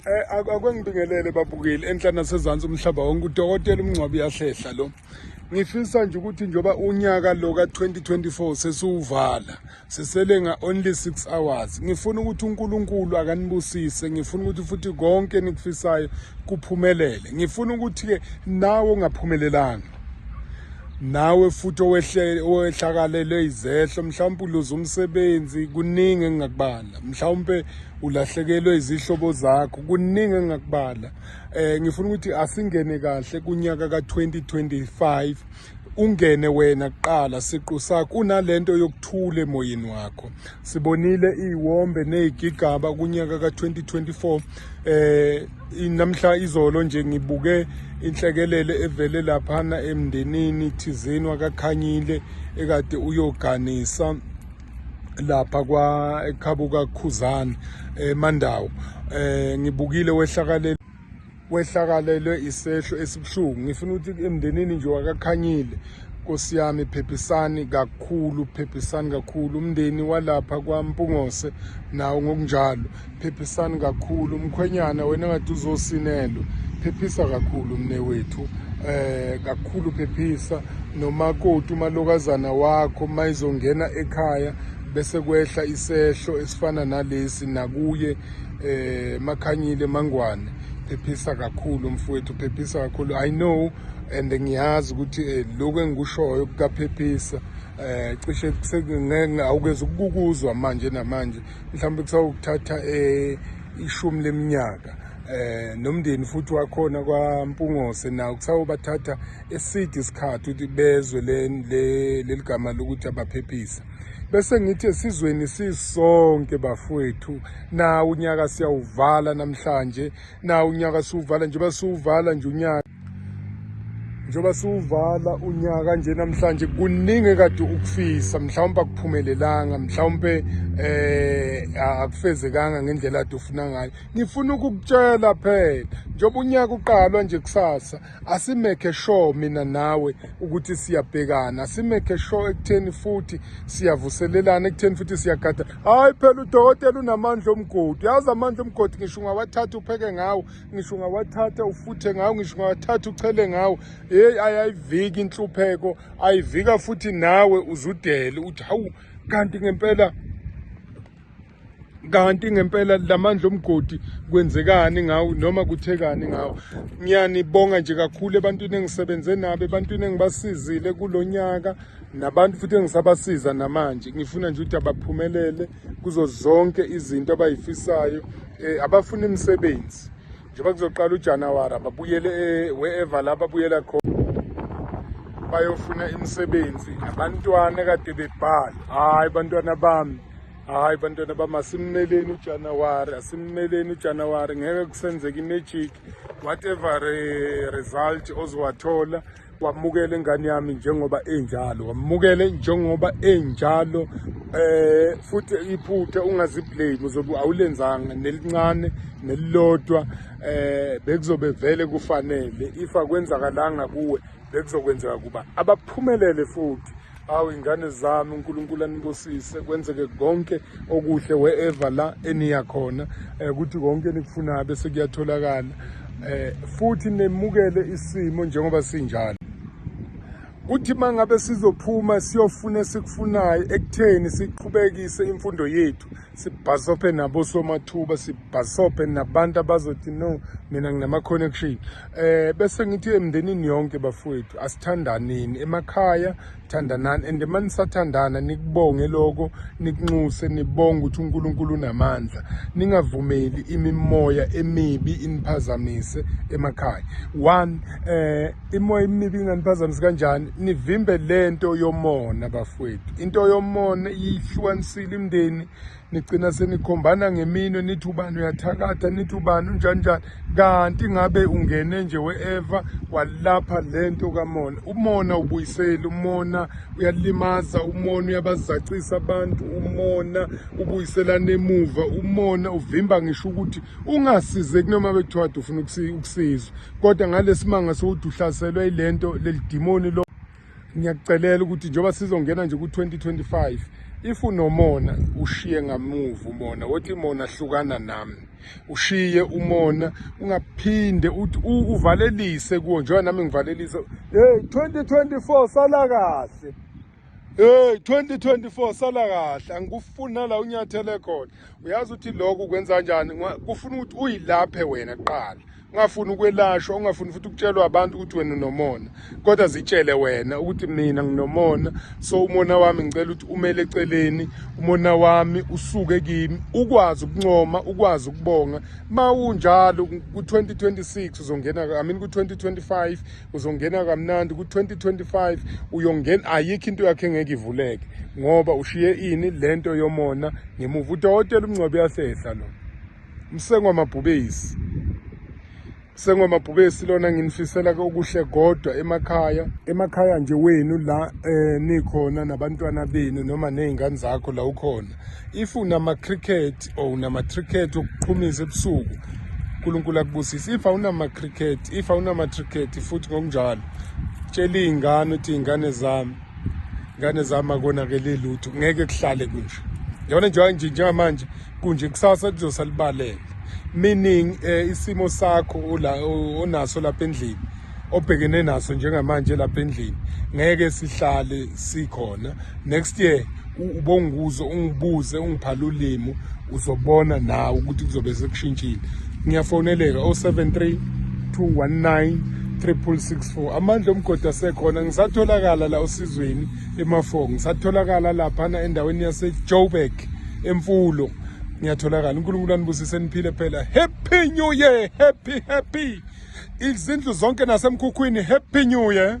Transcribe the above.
Eh, akwengibingelele babukeli enhla nasezansi umhlaba wonke udokotela umngcwabi uyahlehla lo ngifisa nje ukuthi njengoba unyaka lo ka-2024 sesiwuvala sisele nga-only six hours ngifuna ukuthi unkulunkulu akanibusise ngifuna ukuthi futhi konke enikufisayo kuphumelele ngifuna ukuthi-ke nawe ongaphumelelanga nawe futhi owehlakalelwe izehlo mhlawumpe uluze umsebenzi kuningi engingakubala mhlawumpe ulahlekelwe izihlobo zakho kuningi engakubala eh ngifuna ukuthi asingene kahle kunyaka ka2025 ungene wena kuqala siqu sakho unalento yokuthula emoyeni wakho sibonile iwombe nezigigaba kunyaka ka2024 eh namhla izolo nje ngibuke inhlekelele evele laphana emndenini thizeni wakakhanyile ekade uyoganisa lapha kwa ekhabuka Khuzani eMandawo eh, eh ngibukile wehlakalele wehlakalelwe isehlo esibuhlungu ngifuna ukuthi emndenini nje wakakhanyile Nkosi yami phephisani kakhulu phephisani kakhulu umndeni walapha kwaMpungose nawo ngokunjalo phephisani kakhulu mkhwenyana wena ngathi uzosinelwa phephisa kakhulu mne wethu eh kakhulu phephisa nomakoti umalokazana wakho mayizongena ekhaya bese kwehla isehlo esifana nalesi nakuye eh makhanyile mangwane phephisa kakhulu mfowethu phephisa kakhulu i know and ngiyazi ukuthi eh, lokho engikushoyo kukaphephisa eh cishe sekungeke awukeze ukukuzwa manje namanje mhlawumbe kusawukuthatha um ishumi leminyaka eh nomndeni futhi wakhona kwaMpungose nawo kusawubathatha eside isikhathi ukuthi bezwe leligama lokuthi abaphephisa bese ngithi esizweni sisonke bafowethu nawo unyaka siyawuvala namhlanje nawo unyaka siwuvala nje basuwuvala nje unyaka njengoba siwuvala unyaka nje namhlanje kuningi kade ukufisa mhlawumbe akuphumelelanga mhlawumbe eh akufezekanga ngendlela ade ufuna ngayo ngifuna ukukutshela phela njengoba unyaka uqalwa nje kusasa asimeke sure mina nawe ukuthi siyabhekana asimeke sure ekutheni futhi siyavuselelana ekutheni futhi siyagada hayi phela udokotela unamandla omgodi yazi amandla omgodi ngisho ungawathatha upheke ngawo ngisho ungawathatha ufuthe ngawo ngisho ungawathatha uchele ngawo heyi ayayiviki inhlupheko ayivika futhi nawe uzudele uthi hawu kanti ngempela kanti ngempela lamandla omgodi kwenzekani ngawo noma kuthekani ngawo ngiyanibonga nje kakhulu ebantwini engisebenze nabo ebantwini engibasizile kulonyaka nabantu futhi engisabasiza namanje ngifuna nje ukuthi abaphumelele kuzo zonke izinto abayifisayo eh, abafuna imisebenzi njengoba kuzoqala uJanuary ababuyele eh, wherever la babuyela khona bayofuna imisebenzi abantwana kade bebhala hayi bantwana bami hayi bantwana bami asimmeleni ujanuwari asimmeleni ujanuwari ngeke kusenzeka imajiki whatever eh, result ozowathola wamukele ingane yami njengoba enjalo wamukele njengoba enjalo eh futhi iphuthe ungaziblame uzobe awulenzanga nelincane nelilodwa eh bekuzobe vele kufanele if akwenzakalanga kuwe bekuzokwenzeka kuba abaphumelele futhi awu ingane zami uNkulunkulu anibusise kwenzeke konke okuhle wherever la eniya khona eh, ukuthi konke nikufunayo bese kuyatholakala eh, futhi nemukele isimo njengoba sinjalo kuthi mangabe sizophuma siyofuna esikufunayo ekutheni siqhubekise imfundo yethu sibhasobhe nabo somathuba sibhasobhe nabantu abazothi no mina nginama-connection eh bese ngithi emndenini yonke bafowethu asithandaneni emakhaya thandanani and uma nisathandana nikubonge lokho nikunxuse nibonge ukuthi unkulunkulu unamandla ningavumeli imimoya emibi iniphazamise emakhaya one eh imoya imibi inganiphazamisi kanjani nivimbe lento yomona bafowethu into yomona iyihlukanisile imndeni nigcina senikhombana ngeminwe nithi ubani uyathakatha nithi ubani unjani njani kanti ngabe ungene nje we-eva walapha lento kamona umona ubuyiseli umona uyalimaza umona uyabazacisa abantu umona ubuyiselana emuva umona uvimba ngisho ukuthi ungasizeki noma bekuthiwa kade ufuna ukusizwa kodwa ngalesimanga sewuthi uhlaselwe ilento lelidimoni lo ngiyakucelela ukuthi njengoba sizongena nje ku-2025 if unomona ushiye ngamuva umona wothi imona hlukana nami ushiye umona ungaphinde uthi uvalelise kuwo njengoba nami ngivalelise hey 2024 sala kahle Hey 2024 sala kahle angikufuna la unyathele khona uyazi ukuthi lokho kwenza kanjani kufuna ukuthi uyilaphe wena kuqala ungafuni ukwelashwa ungafuni futhi ukutshelwa abantu ukuthi wena unomona kodwa zitshele wena ukuthi mina nginomona so umona wami ngicela ukuthi umele eceleni umona wami usuke kimi ukwazi ukuncoma ukwazi ukubonga mawunjalo ku-2026 uzongena i mean ku-2025 uzongena kamnandi ku-2025 uyongena ayikho into yakhe engeke ivuleke ngoba ushiye ini le nto yomona ngemuva udokotela umngcwabi uyahlehla lo msengwamabhubesi sengomabhubesi lona nginifisela okuhle kodwa emakhaya emakhaya nje wenu la eh nikhona nabantwana benu noma nezingane zakho la ukhona if unama-cricket or unama-tricket okuqhumisa ebusuku unkulunkulu akubusise if awunama-cricket if awunama-tricket futhi ngokunjalo tshela iy'ngane ukuthi iy'ngane zami ngane zami akonakele lutho ngeke kuhlale kunje yabona njengoba nje njengamanje kunje kusasa lizosa libalele meaning eh, isimo sakho onaso lapha endlini obhekene naso njengamanje lapha endlini ngeke sihlale sikhona next year ubonguzo ungibuze ungiphala ulimi uzobona nawe ukuthi kuzobe sekushintshile ngiyafoneleka 073 219 3664 amandla omgodi asekhona ngisatholakala la osizweni emafoko ngisatholakala laphana endaweni yasejoburg emfulo ngiyatholakala unkulunkulu anibusise niphile phela happy new year happy happy izindlu zonke nasemkhukhwini happy new year